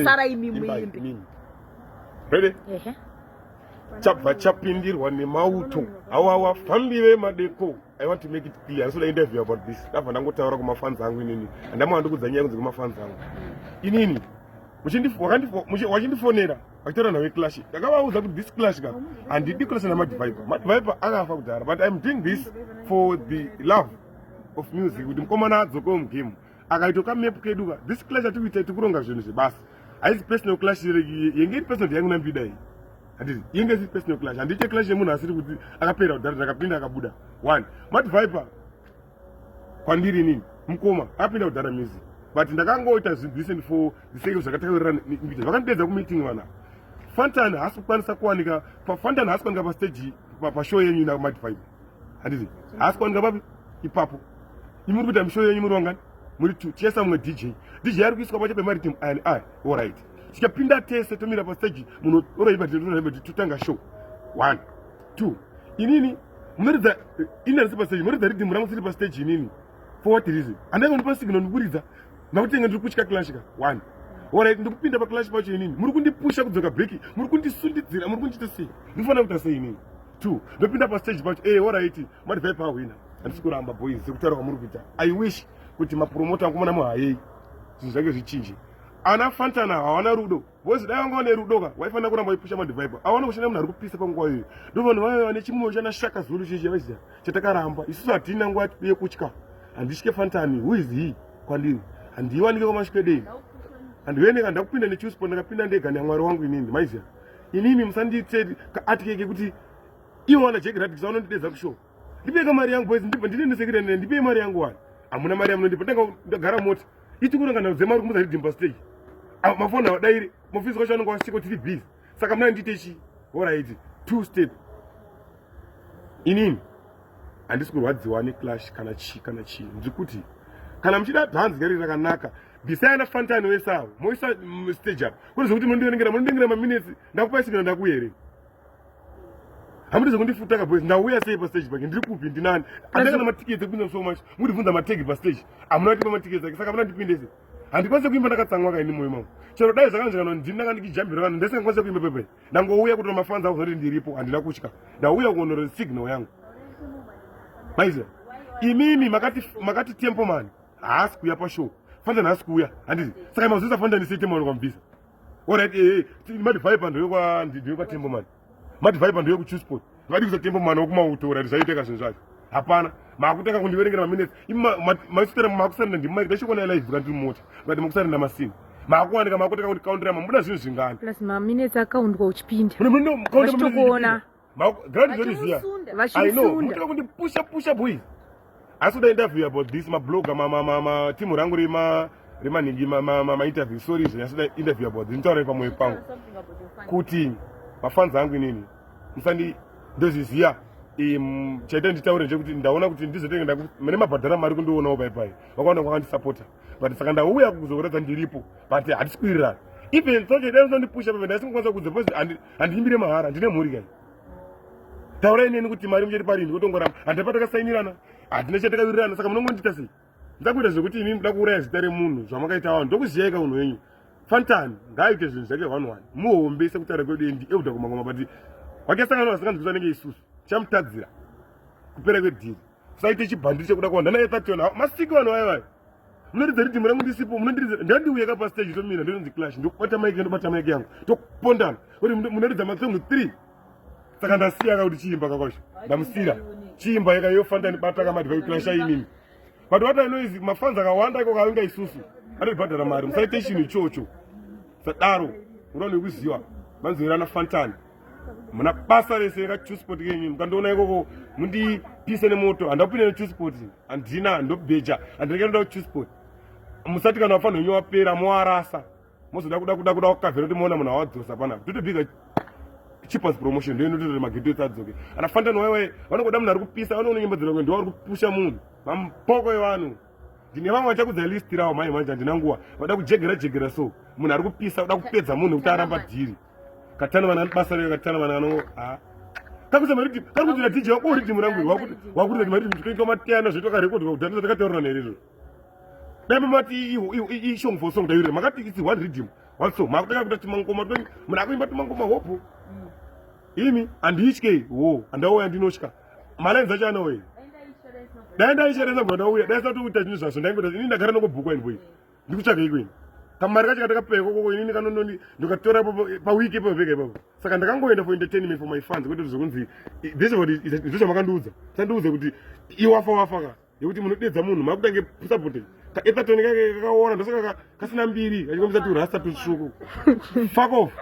Sara imi muimbe. Ready? Ehe. Chabva chapindirwa nemauto. Awawa fambi vemadeko. I want to make it clear. Ndoda interview about this. Ndabva ndangotaura kumafans angu inini. Andamwa ndikudza nyaya kunze kumafans angu. Inini. Wachindifonera. Akitaura nawe clash. Ndakavaudza kuti this clash ka. Handidi clash na Madviper. Madviper akafa kudhara but I'm doing this for the love of music. Kuti mkomana adzoke mugame. akaito ka map kedu ka this clash ati kuita tikuronga zvinhu zvebasa haizi personal clash yenge iri personal yangu nambida iyi handiti yenge isi personal clash handiite clash yemunhu asiri kuti akapera kudhara ndakapinda akabuda one mati viper kwandiri inini mukoma akapinda kudhara music but ndakangoita zvinhu for the sake of zvakataurira nikuita vakandidedza kumeeting vana fantan haasi kukwanisa kuwanika fantan haasi kuwanika pastaji pashow yenyu namadvibe handizi haasi kuwanika papi ipapo imi muri kuita mishoyo yenyu muri vangani muri two tiesa mumwe dj dj ari kuiswa pacho pemaritim ani a orit tichapinda tese tomira pasteji munhu oraiva totanga show one two inini munoridza eh, ini andisi pasteji munoridza ridimu rangu siri pasteji inini for what reason andaiva ndipa signal ndikuridza nakutenge ndiri kutya clashika one orit ndikupinda paclash pacho inini muri kundipusha kudzoka breki muri kundisundidzira muri kundiita sei ndikufanira kuita sei inini two ndopinda pastage pacho e horaiti mati vai pahwina handisi kuramba boys sekutaura kwamuri kuita i wish kuti mapromota akumona muhayei zvinhu zvake zvichinje ana fantana hawana rudo boys dai vanga vane rudo ka waifanira kuramba waipusha madivaipa awana kushanda munhu ari kupisa panguva iyoyo ndo vanhu vave vane chimwoyo chana shaka zulu chichi vaiziva chatakaramba isusu hatina nguva yekutya handitye fantani who is he kwandiri handiiwanike kwamasvikwedei handiveneka ndakupinda nechusport ndakapinda ndega nyamwari wangu inini maiziva inini musandiitse kaatike kekuti ivo wana jack radix vanondidedza kushow ndipeka mari yangu boys ndibva ndine nesekirenene ndipei mari yangu wani hamuna mari yamunondipa ndanga ndagara mota ichikuranga nhau dzemari kumuza ridimba stage mafoni awadaire mofisi kwacho anonga wasiko tiri busy saka mnandiite chii horaiti two step inini handisi kurwadziwa neclash kana chii kana chii ndiri kuti kana muchida bhanzi ngari rakanaka bhisai ana fantani wese avo moisa mm, stage up kune zvekuti munondiverengera munondengera maminutes ndakupai sigina ndakuya here hamuti zvekundifuta ka boys ndauya sei pastage pake ndiri kupi ndinani andanga na matiketi ekupinda so much mundibvunza mategi pastage hamuna kutipa matiketi ake saka hamuna ndipindese handikwanise kuimba ndakatsamwa kaini moyo mangu chero dai zvakanzvikana ndini ndanga ndikijambira kana ndese ngakwanise kuimba pepe ndangouya kuti mafanzi ako zoti ndiripo handina kutya ndauya kuonero signal yangu maiziva imimi makati makati tempo mani haasi kuuya pashow fanda nhasi kuuya handiti saka mazoisa fanda ndisei tempo mani kwamubvisa orit eh, eh, madivai pandovekwa tempo mani madivai pandovekuchusport Vadi kusatemba mwana wokumauto urati zvaiteka zvinhu zvacho. Hapana. Makutanga kundiverengera maminutes. Ima masitera makusarenda ndimai ndachikona live kana ndiri mota. Ngati makusarenda masini. Makuwanika makutanga kuti counter yamwe muda zvinhu zvingani. Plus maminutes akaundwa uchipinda. Muno muno counter muno. Makuona. Makuona. Grandi zviri zviya. Vachiri sunda. I know. Mutaka kundipusha pusha boys. asi kuda interview about this mablogger matimu rangu rema remanhingi mainterview sorry izvo nyasida interview about this nditaura pamwoyo pangu kuti mafans angu inini musandi ndozviziva chaita nditaure ndechekuti ndaona kuti ndizotenge mune mabhadhara mari kundionawo paipai vakaona kwakandisapota but saka ndauya kuzokuratidza ndiripo but hatisi kuwirirana even sochedai zvinondipusha pamene ndaisingakwanisa kudza because handiimbire mahara ndine mhuri kai taurai neni kuti mari muchati parini kotongoramba handina patakasainirana handina chatakawirirana saka munongondiita sei ndakuita zvekuti imi muda kuuraya zita remunhu zvamakaita vanhu ndokuziyai ka unhu wenyu fantan ngaaite zvinhu zvake one one muhombe sekutaura kwedu endi euda kumangoma but wakesangana vasinganzwisa anenge isusu chamutadzira kupera kwedhiri saite chibhandiri chekuda kuwanda naye thationa ah, masiki vanhu vaye vaye munoridza ridhimu rangu ndisipo munondiridza ndandiuya ka pastage tomira ndinonzi clash ndokubata maiki ndobata maiki yangu tokupondana kuti munoridza matsongo three saka ndasiya ka kuti chiimba kakosha ndamusira chiimba yeka yofanda ndibata kamadhiva kuclasha inini but what i know is mafanzi akawanda iko kavinga isusu anotibhadhara mari musaite chinhu ichocho sadaro unoona nekuziva manzwirana fantani muna basa rese rekachusport kenyu mukandiona ikoko mundipise nemoto handapinde nechusport handina ndobheja handinekanoda kuchusport musati kana vafanira wenyu wapera moarasa mozoda kuda kuda kuda kukavhera kuti moona munhu awadzosa panapa totobiga cheapest promotion ndo inotoita mageto ese adzoke ana fantano waiwai vanongoda munhu ari kupisa vanoona nyimbo dzinoke ndo vari kupusha munhu mampoko evanhu ndine vamwe vachakudza list rawo mhai manje handina nguva vada kujegera jegera so munhu ari kupisa kuda kupedza munhu kuti aramba dhiri katana vana basa rega katana vana vano ha kakuza mari kuti kari kuti DJ wako uri timu rangu wakuti wakuti kuti mari kuti kuita matiyana zveto ka record kuti data takataura nere izvo dai mamati i song for song dayure makati it's one rhythm one song makutaka kuita timangoma twenyu muna kuimba timangoma hope mm. imi anditye wo andauya ndinotya malines acho anauya dai ndaisheresa kuti ndauya dai sati kuita chinhu zvaso ndaingoita ini ndagara nokubhukwa invoice ndikutsvaga iko ini kamari kacho katakapewa koko inini kanononi ndikatora paweek ipapo pega ipapo saka ndakangoenda for entertainment for my fans kwete zvokunzi this what ndizvo zvamakandiudza sandiudza kuti iwafa wafa ka yekuti munodedza munhu makutange supporting kaetatoni kake kakaora ndosaka kasina mbiri kachikomisa turasta tutsvuku fuck off